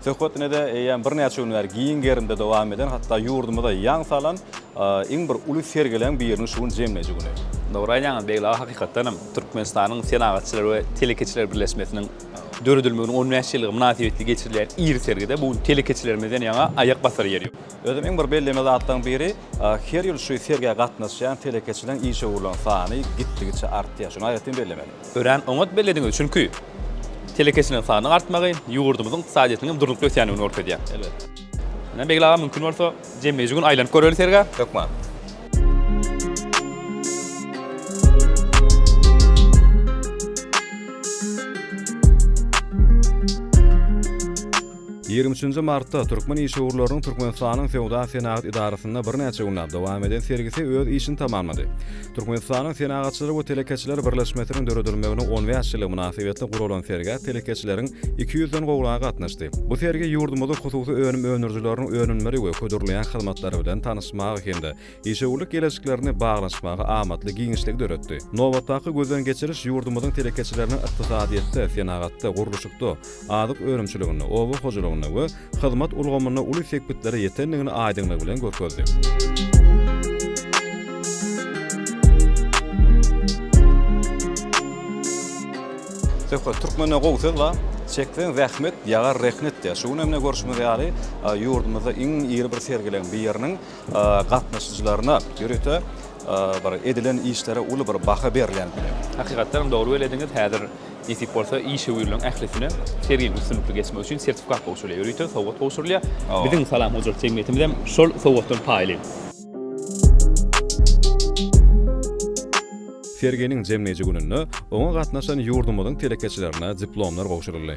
Söhbetine-de eýýäm birnäçe gün bäri giň gerimde dowam eden, hatda ýurdumyza ýaň salan iň bir uly sergileriň biriniň şu gün jemleýji güni. Dogry aýdýaňyz, Beýik aga, hakykatdan hem, Türkmenistanyň Senagatçylar we telekeçiler birleşmesiniň döredilmeginiň on bäş ýyllygy mynasybetli geçirilýän iri sergide bu gün telekeçilerimizden ýaňa aýak basar ýer ýok. Özem iň bir bellemeli zatlaryň biri, her ýyl şu sergä gatnaşýan telekeçileriň işewürleriň sany gitdigiçe artýar. Şuny aýratyn bellemeli. Örän oňat bellediňiz, çünki telekeçileriň sanynyň artmagy ýurdumyzyň ykdysadyýetiniň hem durnukly ösýändigini görkezýär. Elbetde. Begli aga, mümkin bolsa, jemleýji gün aýlanyp göreli sergä. Hökman. Ýigrimi üçünji martda türkmen işewürleriniň Türkmenistanyň Söwda-senagat edarasynda birnäçe günläp dowam eden sergisi öz işini tamamlady. Türkmenistanyň Senagatçylar we telekeçiler birleşmesiniň döredilmeginiň on bäş ýyllygy mynasybetli guralan sergä telekeçileriň iki ýüzden gowragy gatnaşdy. Bu sergi ýurdumyzyň hususy önüm öndürijileriniň önümleri we hödürleýän hyzmatlary bilen tanyşmaga hem-de işewürlik geleşiklerini baglanyşmaga amatly giňişligi döretdi. Nobatdaky gözden geçiriş ýurdumyzyň telekeçileriniň ykdysadyýetde, senagatda, gurluşykda, azyk önümçiliginde, oba hojalygynda we hyzmat ulgamynda uly sepgitlere ýetendigini aýdyňlygy bilen görkezdi. Söhbet türkmende gowy söz bar. Çekseň zähmet, ýagar rehnet diýýär. Şu gün hem görşümiz ýaly, ýurdumyzda iň iri bir sergileriň biriniň gatnaşyjylaryna ýörite bir edilen işlere uly bir baha berilýän gün. Hakykatdanam dogry belediňiz, häzir nesip bolsa işe buýrulan ählisine sergiň üstünlikli geçmegi üçin sertifikat gowşurylýar, ýörite sowgat gowşurylýar. Biziň Salam hojalyk jemgyýetimiz hem şol sowgatdan paýly. Serginiň jemleýji gününde oňa gatnaşan ýurdumyzyň telekeçilerine diplomlar gowşuryldy.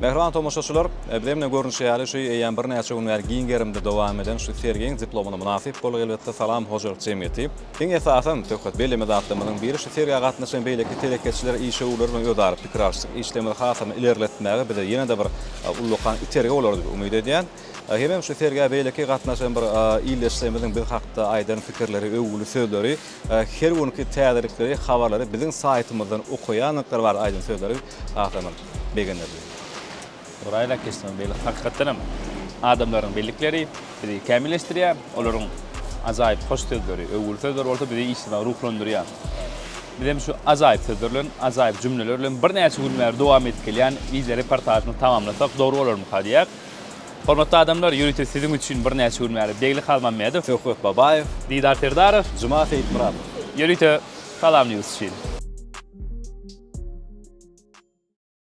Mähriban tomaşaçylar, biz emma görnüşi ýaly şu eýýäm birnäçe gün bäri giň gerimde dowam eden şu sergiň diplomyna mynasyp bolduk elbetde Salam hojalyk jemgyýeti. Iň esasan, söhbet belleme zatlarymyzyň biri şu sergä gatnaşan beýleki telekeçiler işewürler bilen özara pikir alyşdyk işlerimizi hasam ilerletmäge bize ýene-de bir ullakan itergi bolar diýip umyt edýän. Hemem şu sergä beýleki gatnaşan bir ildeşlerimiziň biz hakda aýdan pikirleri öwgüli sözleri her günki täzelikleri habarlary biziň saýtymyzdan okaýandyklary barada aýdan sözleri hasam begenerli. Dogry aýlap geçdiňiz, beýle hakykatdanam adamlaryň bellikleri bizi kämilleşdirýär, olaryň ajaýyp hoş sözleri, öwgüli sözleri bolsa bizi işdäbaý ruhlandyrýar. Biz hem şu ajaýyp sözler bilen, ajaýyp jümleler bilen birnäçe gün bäri dowam edip gelýän wideo reportažyny tamamlasak dogry bolarmyka diýýäs. Hormatly adamlar, ýörite siziň üçin birnäçe gün bäri Begli Halmämmedow, Söhbet Babaýew, Didar Serdarow, Juma Seýitmyradow, ýörite, Salam News üçin.